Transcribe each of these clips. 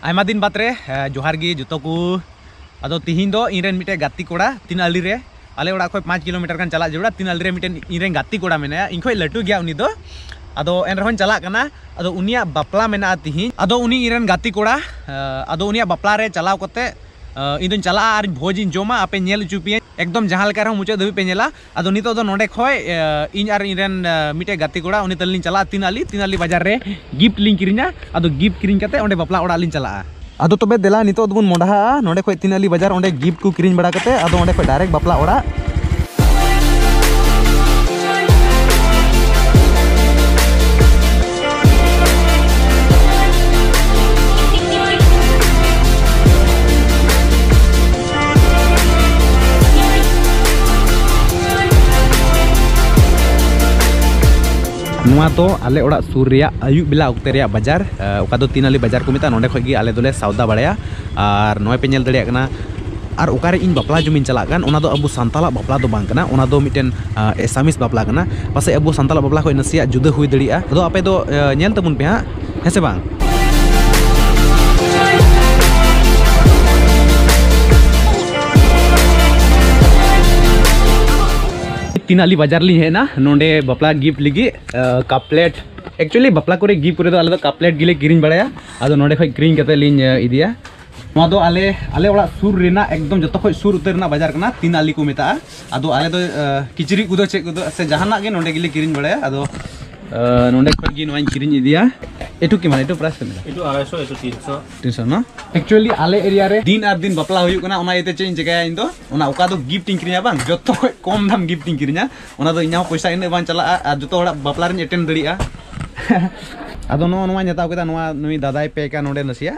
ᱟᱭᱢᱟ ᱫᱤᱱ ᱵᱟᱫᱽ ᱨᱮ ᱡᱚᱦᱟᱨ ᱜᱮ ᱡᱚᱛᱚ ᱠᱚ ᱟᱫᱚ ᱛᱤᱦᱤᱧ ᱫᱚ ᱤᱧ ᱨᱮᱱ ᱢᱤᱫᱴᱮᱱ ᱜᱟᱛᱮ ᱠᱚᱲᱟ ᱛᱤᱱ ᱟᱹᱞᱤ ᱨᱮ ᱟᱞᱮ ᱚᱲᱟᱜ ᱠᱷᱚᱱ ᱯᱟᱸᱪ ᱠᱤᱞᱳᱢᱤᱴᱟᱨ ᱜᱟᱱ ᱪᱟᱞᱟᱜ ᱡᱟᱹᱨᱩᱲᱟ ᱛᱤᱱ ᱟᱹᱞᱤ ᱨᱮ ᱢᱤᱫᱴᱮᱱ ᱤᱧ ᱨᱮᱱ ᱜᱟᱛᱮ ᱠᱚᱲᱟ ᱢᱮᱱᱟᱭᱟ ᱤᱧ ᱠᱷᱚᱱ ᱞᱟᱹᱴᱩ ᱜᱮᱭᱟ ᱩᱱᱤ ᱫᱚ ᱟᱫᱚ ᱮᱱ ᱨᱮᱦᱚᱸᱧ ᱪᱟᱞᱟᱜ ᱠᱟᱱᱟ ᱟᱫᱚ ᱩᱱᱤᱭᱟᱜ ᱵᱟᱯᱞᱟ ᱢᱮᱱᱟᱜᱼᱟ ᱛᱤᱦᱤᱧ ᱟᱫᱚ ᱩᱱᱤ ᱤᱧ ᱨᱮᱱ ᱜᱟᱛᱮ ᱠᱚᱲᱟ ᱟᱫᱚ ᱩᱱᱤᱭᱟᱜ ᱵᱟᱯᱞᱟ ᱨᱮ ᱪᱟᱞᱟᱣ ᱠᱟᱛᱮ ᱤᱧ ᱫᱚᱧ ᱪᱟᱞᱟᱜᱼᱟ ᱟᱨ ᱵᱷᱚᱡᱽ ᱤᱧ ᱡᱚᱢᱟ ᱟᱯᱮ ᱧᱮᱞ ᱦᱚᱪᱚ ᱯᱮᱭᱟᱹᱧ ᱮᱠᱫᱚᱢ ᱡᱟᱦᱟᱸ ᱞᱮᱠᱟ ᱨᱮᱦᱚᱸ ᱢᱩᱪᱟᱹᱫ ᱫᱷᱟᱹᱵᱤᱡ ᱯᱮ ᱧᱮᱞᱟ ᱟᱫᱚ ᱱᱤᱛᱚᱜ ᱫᱚ ᱱᱚᱰᱮ ᱠᱷᱚᱡ ᱤᱧ ᱟᱨ ᱤᱧ ᱨᱮᱱ ᱢᱤᱫᱴᱮᱡ ᱜᱟᱛᱮ ᱠᱚᱲᱟ ᱩᱱᱤ ᱛᱟᱹᱞᱤᱧ ᱪᱟᱞᱟᱜᱼᱟ ᱛᱤᱱ ᱟᱞᱤ ᱛᱤᱱ ᱟᱞᱤ ᱵᱟᱡᱟᱨ ᱨᱮ ᱜᱤᱯᱷᱴ ᱞᱤᱧ ᱠᱤᱨᱤᱧᱟ ᱟᱫᱚ ᱜᱤᱯᱷᱴ ᱠᱤᱨᱤᱧ ᱠᱟᱛᱮ ᱚᱸᱰᱮ ᱵᱟᱯᱞᱟ ᱚᱲᱟᱜ ᱞᱤᱧ ᱪᱟᱞᱟᱜᱼᱟ ᱟᱫᱚ ᱛᱚᱵᱮ ᱫᱮᱞᱟ ᱱᱤᱛᱚᱜ ᱫᱚᱵᱚᱱ ᱢᱚᱰᱟᱦᱟᱜᱼᱟ ᱱᱚᱰᱮ ᱠᱷᱚᱡ ᱛᱤᱱ ᱟᱞᱤ ᱵᱟᱡᱟᱨ ᱚᱸᱰᱮ ᱜᱤᱯᱷᱴ ᱠᱚ ᱠᱤᱨᱤᱧ ᱵᱟᱲᱟ ᱠᱟᱛᱮ ᱟᱫᱚ ᱚᱸᱰᱮ ᱠᱷᱚᱡ ᱰᱟᱭᱨᱮᱠᱴ ᱵᱟᱯᱞᱟ ᱚᱲᱟᱜ ᱱᱚᱣᱟ ᱫᱚ ᱟᱞᱮ ᱚᱲᱟᱜ ᱥᱩᱨ ᱨᱮᱭᱟᱜ ᱟᱹᱭᱩᱵ ᱵᱮᱞᱟ ᱚᱠᱛᱮ ᱨᱮᱭᱟᱜ ᱵᱟᱡᱟᱨ ᱚᱠᱟ ᱫᱚ ᱛᱤᱱᱟᱞᱤ ᱵᱟᱡᱟᱨ ᱠᱚ ᱢᱮᱛᱟᱜᱼᱟ ᱱᱚᱸᱰᱮ ᱠᱷᱚᱱ ᱜᱮ ᱟᱞᱮ ᱫᱚᱞᱮ ᱥᱟᱣᱫᱟ ᱵᱟᱲᱟᱭᱟ ᱟᱨ ᱱᱚᱜᱼᱚᱭ ᱯᱮ ᱧᱮᱞ ᱫᱟᱲᱮᱭᱟᱜ ᱠᱟᱱᱟ ᱟᱨ ᱚᱠᱟᱨᱮ ᱤᱧ ᱵᱟᱯᱞᱟ ᱡᱚᱢᱤᱧ ᱪᱟᱞᱟᱜ ᱠᱟᱱ ᱚᱱᱟ ᱫᱚ ᱟᱵᱚ ᱥᱟᱱᱛᱟᱲᱟᱜ ᱵᱟᱯᱞᱟ ᱫᱚ ᱵᱟᱝ ᱠᱟᱱᱟ ᱚᱱᱟ ᱫᱚ ᱢᱤᱫᱴᱮᱱ ᱮᱥᱟᱢᱤᱥ ᱵᱟᱯᱞᱟ ᱠᱟᱱᱟ ᱯᱟᱥᱮᱡ ᱟᱵᱚ ᱥᱟᱱᱛᱟᱲᱟᱜ ᱵᱟᱯᱞᱟ ᱠᱷᱚᱱ ᱱᱟᱥᱮᱭᱟᱜ ᱡᱩᱫᱟᱹ ᱦᱩᱭ ᱫᱟᱲᱮᱭᱟᱜᱼᱟ ᱟᱫᱚ ᱟᱯᱮ ᱫᱚ ᱧᱮᱞ ᱛᱟᱵᱚᱱ ᱯᱮ ᱦᱟᱸᱜ ᱦᱮᱸ ᱥᱮ ᱵᱟᱝ ᱛᱤᱱ ᱟᱞᱤ ᱵᱟᱡᱟᱨ ᱞᱤᱧ ᱦᱮᱡ ᱮᱱᱟ ᱱᱚᱰᱮ ᱵᱟᱯᱞᱟ ᱜᱤᱯᱷᱴ ᱞᱟᱹᱜᱤᱫ ᱠᱟᱯ ᱯᱞᱮᱴ ᱮᱠᱪᱩᱭᱮᱞᱤ ᱵᱟᱯᱞᱟ ᱠᱚᱨᱮ ᱜᱤᱯᱷᱴ ᱠᱚᱨᱮ ᱫᱚ ᱟᱞᱮ ᱫᱚ ᱠᱟᱯ ᱯᱞᱮᱴ ᱜᱮᱞᱮ ᱠᱤᱨᱤᱧ ᱵᱟᱲᱟᱭᱟ ᱟᱫᱚ ᱱᱚᱰᱮ ᱠᱷᱚᱱ ᱠᱤᱨᱤᱧ ᱠᱟᱛᱮ ᱞᱤᱧ ᱤᱫᱤᱭᱟ ᱱᱚᱣᱟ ᱫᱚ ᱟᱞᱮ ᱟᱞᱮ ᱚᱲᱟᱜ ᱥᱩᱨ ᱨᱮᱱᱟᱜ ᱮᱠᱫᱚᱢ ᱡᱚᱛᱚ ᱠᱷᱚᱱ ᱥᱩᱨ ᱩᱛᱟᱹᱨ ᱨᱮᱱᱟᱜ ᱵᱟᱡᱟᱨ ᱠᱟᱱᱟ ᱛᱤᱱ ᱟᱞᱤ ᱠᱚ ᱢᱮᱛᱟᱜᱼᱟ ᱟᱫᱚ ᱟᱞᱮ ᱫᱚ ᱠᱤᱪᱨᱤᱡ ᱠᱚᱫᱚ ᱪᱮᱫ ᱠᱚᱫᱚ ᱥᱮ ᱡᱟᱦᱟᱱᱟᱜ ᱜᱮ ᱱᱚᱰᱮ ᱜᱮᱞᱮ ᱠᱤᱨᱤᱧ ᱵᱟᱲᱟᱭᱟ ᱟᱫᱚ ᱱᱚᱰᱮ ᱠᱷᱚᱱ ᱜᱮ ᱱᱚᱣᱟᱧ ᱠᱤᱨᱤᱧ ᱤᱫᱤᱭᱟ ᱮᱴᱩ ᱠᱤ ᱢᱟᱱᱮ ᱮᱴᱩ ᱯᱨᱟᱭᱥ ᱠᱟᱱᱟ ᱮᱴᱩ 250 ᱮᱴᱩ 300 300 ᱱᱟ ᱮᱠᱪᱩᱭᱟᱞᱤ ᱟᱞᱮ ᱮᱨᱤᱭᱟ ᱨᱮ ᱫᱤᱱ ᱟᱨ ᱫᱤᱱ ᱵᱟᱯᱞᱟ ᱦᱩᱭᱩᱜ ᱠᱟᱱᱟ ᱚᱱᱟ ᱤᱭᱟᱹᱛᱮ ᱪᱮᱫ ᱤᱧ ᱪᱮᱠᱟᱭᱟ ᱤᱧ ᱫᱚ ᱚᱱᱟ ᱚᱠᱟ ᱫᱚ ᱜᱤᱯᱷᱴ ᱤᱧ ᱠᱤᱨᱤᱧᱟ ᱵᱟᱝ ᱡᱚᱛᱚ ᱠᱷᱚᱱ ᱠᱚᱢ ᱫᱟᱢ ᱜᱤᱯᱷᱴ ᱤᱧ ᱠᱤᱨᱤᱧᱟ ᱚᱱᱟ ᱫᱚ ᱤᱧᱟᱹᱜ ᱯᱚᱭᱥᱟ ᱤᱱᱟᱹᱜ ᱵᱟᱝ ᱪᱟᱞᱟᱜᱼᱟ ᱟᱨ ᱡᱚᱛᱚ ᱦᱚᱲᱟᱜ ᱵᱟᱯᱞᱟ ᱨᱤᱧ ᱮᱴᱮᱱᱰ ᱫᱟᱲᱮᱭᱟᱜᱼᱟ ᱟᱫᱚ ᱱᱚᱣᱟ ᱱᱚᱣᱟᱧ ᱦᱟᱛᱟᱣ ᱠᱮᱫᱟ ᱱᱚᱣᱟ ᱱᱩᱭ ᱫᱟᱫᱟᱭ ᱯᱮᱠᱟ ᱱᱚᱰᱮ ᱱᱟᱥᱮᱭᱟᱜ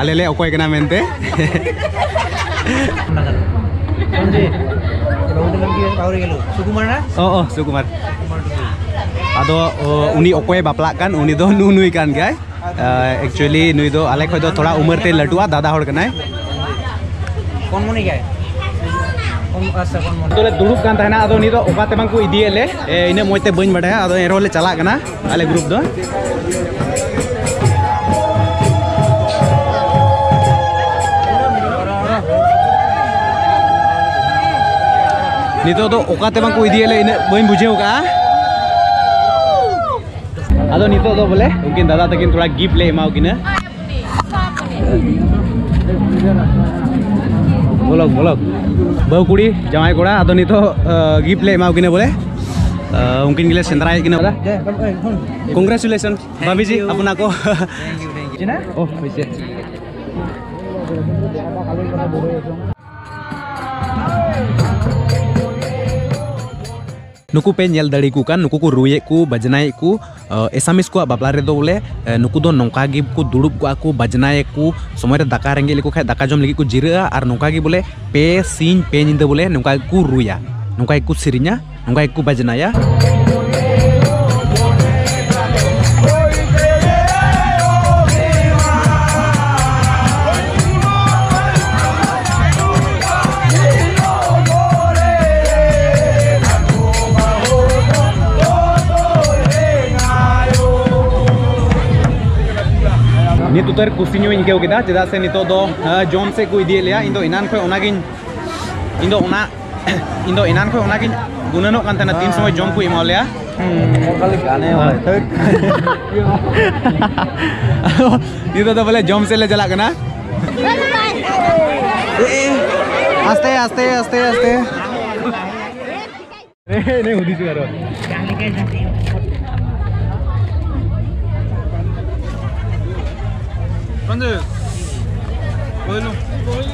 ᱟᱞᱮᱞᱮ ᱚᱠᱚᱭ ᱠᱟᱱᱟ ᱢᱮᱱᱛᱮ ᱚ ᱥᱩᱠᱩᱢᱟᱨ ᱟᱫᱚ ᱩᱱᱤ ᱚᱠᱚᱭ ᱵᱟᱯᱞᱟᱜ ᱠᱟᱱ ᱩᱱᱤ ᱫᱚ ᱱᱩ ᱱᱩᱭ ᱠᱟᱱ ᱜᱮᱭᱟᱭ ᱮᱠᱪᱩᱭᱮᱞᱤ ᱱᱩᱭ ᱫᱚ ᱟᱞᱮ ᱠᱷᱚᱡ ᱫᱚ ᱛᱷᱚᱲᱟ ᱩᱢᱟᱹᱨ ᱛᱮ ᱞᱟᱹᱴᱩᱜᱼᱟ ᱫᱟᱫᱟ ᱦᱚᱲ ᱠᱟᱱᱟᱭ ᱠᱚᱱ ᱢᱚᱱᱮ ᱜᱮᱭᱟᱭ ᱫᱩᱲᱩᱵ ᱠᱟᱱ ᱛᱟᱦᱮᱱᱟ ᱟᱫᱚ ᱩᱱᱤ ᱫᱚ ᱚᱠᱟ ᱛᱮ ᱵᱟᱝ ᱠᱚ ᱤᱫᱤᱭᱮᱫ ᱞᱮ ᱤᱱᱟᱹ ᱢᱚᱡᱽ ᱛᱮ ᱵᱟᱹᱧ ᱵᱟᱰᱟᱭᱟ ᱟᱫᱚ ᱮᱱᱨᱮᱦᱚᱸ ᱞᱮ ᱪᱟᱞᱟᱜ ᱠᱟᱱᱟ ᱟᱞᱮ ᱜᱨᱩᱯ ᱫᱚ ᱱᱤᱛᱚᱜ ᱫᱚ ᱚᱠᱟᱛᱮ ᱵᱟᱝᱠᱚ ᱤᱫᱤᱭᱮᱫ ᱞᱮ ᱤᱱᱟᱹᱜ ᱵᱟᱹᱧ ᱵᱩᱡᱷᱟᱹᱣ ᱠᱟᱜᱼᱟ ᱟᱫᱚ ᱱᱤᱛᱚᱜ ᱫᱚ ᱵᱚᱞᱮ ᱩᱱᱠᱤᱱ ᱫᱟᱫᱟ ᱛᱟᱹᱠᱤᱱ ᱛᱷᱚᱲᱟ ᱜᱤᱯᱷᱴ ᱞᱮ ᱮᱢᱟᱣ ᱠᱤᱱᱟ ᱵᱚᱞᱚᱠ ᱵᱚᱞᱚᱠ ᱵᱟᱹᱦᱩ ᱠᱩᱲᱤ ᱡᱟᱶᱟᱭ ᱠᱚᱲᱟ ᱟᱫᱚ ᱱᱤᱛᱚᱜ ᱜᱤᱯᱷᱴ ᱞᱮ ᱮᱢᱟ ᱠᱤᱱᱟ ᱵᱚᱞᱮ ᱩᱱᱠᱤᱱ ᱜᱮᱞᱮ ᱥᱮᱸᱫᱽᱨᱟᱭᱮᱫ ᱠᱤᱱᱟ ᱵᱚᱞᱮ ᱠᱚᱝᱜᱨᱮᱪᱩᱞᱮᱥᱚᱱ ᱵᱟᱵᱤ ᱡᱤ ᱟᱯᱱᱟ ᱠᱚ ᱳ ᱦᱳᱭᱥᱮ ᱱᱩᱠᱩ ᱯᱮ ᱧᱮᱞ ᱫᱟᱲᱮ ᱠᱚ ᱠᱟᱱ ᱱᱩᱠᱩ ᱠᱚ ᱨᱩᱭᱮᱫ ᱠᱚ ᱵᱟᱡᱽᱱᱟᱭᱮᱫ ᱠᱚ ᱮᱥᱟᱢᱤᱥ ᱠᱚᱣᱟᱜ ᱵᱟᱯᱞᱟ ᱨᱮᱫᱚ ᱵᱚᱞᱮ ᱱᱩᱠᱩ ᱫᱚ ᱱᱚᱝᱠᱟ ᱜᱮ ᱠᱚ ᱫᱩᱲᱩᱵ ᱠᱚᱜᱼᱟ ᱠᱚ ᱵᱟᱡᱽᱱᱟᱭᱮᱫ ᱠᱚ ᱥᱚᱢᱚᱭ ᱨᱮ ᱫᱟᱠᱟ ᱨᱮᱸᱜᱮᱡ ᱞᱮᱠᱚ ᱠᱷᱟᱱ ᱫᱟᱠᱟ ᱡᱚᱢ ᱞᱟᱹᱜᱤᱫ ᱠᱚ ᱡᱤᱨᱟᱹᱜᱼᱟ ᱟᱨ ᱱᱚᱝᱠᱟ ᱜᱮ ᱵᱚᱞᱮ ᱯᱮ ᱥᱤᱧ ᱯᱮ ᱧᱤᱫᱟᱹ ᱵᱚᱞᱮ ᱱᱚᱝᱠᱟ ᱜᱮᱠᱚ ᱨᱩᱭᱟ ᱱᱚᱝᱠᱟ ᱜᱮᱠᱚ ᱥᱮᱨᱮᱧᱟ ᱱᱚᱝᱠᱟ ᱜᱮᱠᱚ ᱵᱟᱡᱽᱱᱟᱭᱟ ᱩᱛᱟᱹᱨ ᱠᱩᱥᱤ ᱧᱚᱜ ᱤᱧ ᱟᱹᱭᱠᱟᱹᱣ ᱠᱮᱫᱟ ᱪᱮᱫᱟᱜ ᱥᱮ ᱱᱤᱛᱚᱜ ᱫᱚ ᱡᱚᱢ ᱥᱮᱫ ᱠᱚ ᱤᱫᱤᱭᱮᱫ ᱞᱮᱭᱟ ᱤᱧ ᱫᱚ ᱮᱱᱟᱱ ᱠᱷᱚᱱ ᱚᱱᱟᱜᱤᱧ ᱤᱧ ᱫᱚ ᱚᱱᱟ ᱤᱧ ᱫᱚ ᱮᱱᱟᱱ ᱠᱷᱚᱱ ᱚᱱᱟᱜᱤᱧ ᱜᱩᱱᱟᱹᱱᱚᱜ ᱠᱟᱱ ᱛᱟᱦᱮᱱᱟ ᱛᱤᱱ ᱥᱚᱢᱚᱭ ᱡᱚᱢ ᱠᱚ ᱮᱢᱟ ᱞᱮᱭᱟ ᱱᱤᱛᱚᱜ ᱫᱚ ᱵᱚᱞᱮ ᱡᱚᱢ ᱥᱮᱫ ᱞᱮ ᱪᱟᱞᱟᱜ ᱠᱟᱱᱟ ᱟᱥᱛᱮ ᱟᱥᱛᱮ ᱟᱥᱛᱮ ᱟᱥᱛᱮ ᱮᱱᱮ ᱦᱩᱫᱤᱥ ᱟᱨᱚ ᱵᱟᱝ ᱫᱮ ᱵᱚᱞᱚ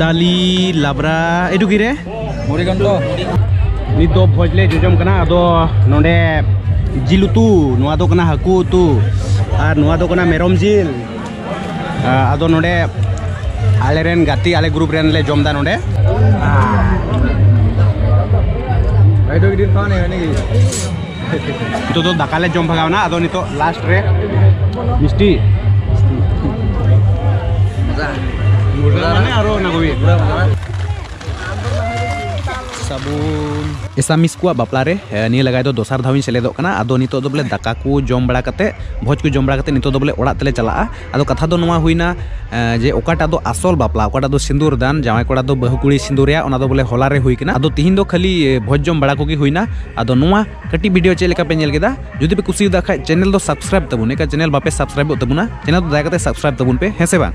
ᱫᱟᱞᱤ ᱞᱟᱵᱨᱟ ᱮᱰᱩᱠᱤ ᱨᱮ ᱢᱚᱨᱤᱜᱚᱱᱰᱚ ᱱᱤᱛ ᱫᱚ ᱵᱷᱚᱡᱽ ᱞᱮ ᱡᱚᱡᱚᱢ ᱠᱟᱱᱟ ᱟᱫᱚ ᱱᱚᱰᱮ ᱡᱤᱞ ᱩᱛᱩ ᱱᱚᱣᱟ ᱫᱚ ᱠᱟᱱᱟ ᱦᱟᱹᱠᱩ ᱩᱛᱩ ᱟᱨ ᱱᱚᱣᱟ ᱫᱚ ᱠᱟᱱᱟ ᱢᱮᱨᱚᱢ ᱡᱤᱞ ᱟᱫᱚ ᱱᱚᱰᱮ ᱟᱞᱮ ᱨᱮᱱ ᱜᱟᱛᱮ ᱟᱞᱮ ᱜᱨᱩᱯ ᱨᱮᱱ ᱞᱮ ᱡᱚᱢ ᱫᱟ ᱱᱚᱰᱮ ᱱᱤᱛᱚᱜ ᱫᱚ ᱫᱟᱠᱟ ᱞᱮ ᱡᱚᱢ ᱵᱷᱟᱜᱟᱣ ᱱᱟ ᱟᱫᱚ ᱱᱤᱛᱚᱜ ᱞᱟᱥᱴ ᱨᱮ ᱢᱤᱥᱴᱤ ᱢᱩᱨᱜᱟ ᱢᱟᱱᱮ ᱟᱨᱚ ᱚᱱᱟ ᱠᱚᱜᱮ ᱥᱟᱵᱩᱱ ᱮᱥᱟ ᱢᱤᱥ ᱠᱚᱣᱟ ᱵᱟᱯᱞᱟ ᱨᱮ ᱱᱤᱭᱟᱹ ᱞᱟᱜᱟᱭ ᱫᱚ ᱫᱚᱥᱟᱨ ᱫᱷᱟᱣᱤᱧ ᱥᱮᱞᱮᱫᱚᱜ ᱠᱟᱱᱟ ᱟᱫᱚ ᱱᱤᱛᱚᱜ ᱫᱚ ᱵᱚᱞᱮ ᱫᱟᱠᱟ ᱠᱚ ᱡᱚᱢ ᱵᱟᱲᱟ ᱠᱟᱛᱮ ᱵᱷᱚᱡᱽ ᱠᱚ ᱡᱚᱢ ᱵᱟᱲᱟ ᱠᱟᱛᱮ ᱱᱤᱛᱚᱜ ᱫᱚ ᱵᱚᱞᱮ ᱚᱲᱟᱜ ᱛᱮᱞᱮ ᱪᱟᱞᱟᱜᱼᱟ ᱟᱫᱚ ᱠᱟᱛᱷᱟ ᱫᱚ ᱱᱚᱣᱟ ᱦᱩᱭᱱᱟ ᱡᱮ ᱚᱠᱟᱴᱟᱜ ᱫᱚ ᱟᱥᱚᱞ ᱵᱟᱯᱞᱟ ᱚᱠᱟᱴᱟᱜ ᱫᱚ ᱥᱤᱸᱫᱩᱨ ᱫᱟᱱ ᱡᱟᱶᱟᱭ ᱠᱚᱲᱟ ᱫᱚ ᱵᱟᱹᱦᱩ ᱠᱩᱲᱤ ᱥᱤᱸᱫᱩᱨᱮᱭᱟ ᱚᱱᱟ ᱫᱚ ᱵᱚᱞᱮ ᱦᱚᱞᱟ ᱨᱮ ᱦᱩᱭ ᱠᱟᱱᱟ ᱟᱫᱚ ᱛᱤᱦᱤᱧ ᱫᱚ ᱠᱷᱟᱹᱞᱤ ᱵᱷᱚᱡᱽ ᱡᱚᱢ ᱵᱟᱲᱟ ᱠᱚᱜᱮ ᱦᱩᱭᱱᱟ ᱟᱫᱚ ᱱᱚᱣᱟ ᱠᱟᱹᱴᱤᱡ ᱵᱷᱤᱰᱤᱭᱳ ᱪᱮᱫ ᱞᱮᱠᱟ ᱯᱮ ᱧᱮᱞ ᱠᱮᱫᱟ ᱡᱩᱫᱤ ᱯᱮ ᱠᱩᱥᱤᱭᱟᱫᱟ ᱠᱷᱟᱡ ᱪᱮᱱᱮᱞ ᱫᱚ ᱥᱟᱵᱥᱠᱨᱟᱭᱤᱵ ᱛᱟᱵᱚᱱ ᱮᱠᱟ ᱪᱮᱱᱮᱞ ᱵᱟᱯᱮ ᱥᱟᱵᱥᱠᱨᱟᱭᱤᱵᱚᱜ ᱛᱟᱵᱚᱱᱟ ᱪᱮᱱᱮᱞ ᱫᱚ ᱫᱟᱭᱟ ᱠᱟᱛᱮ ᱥᱟᱵᱥᱠᱨᱟᱭᱤᱵ ᱛᱟᱵᱚᱱ ᱯᱮ ᱦᱮᱸ ᱥᱮ ᱵᱟᱝ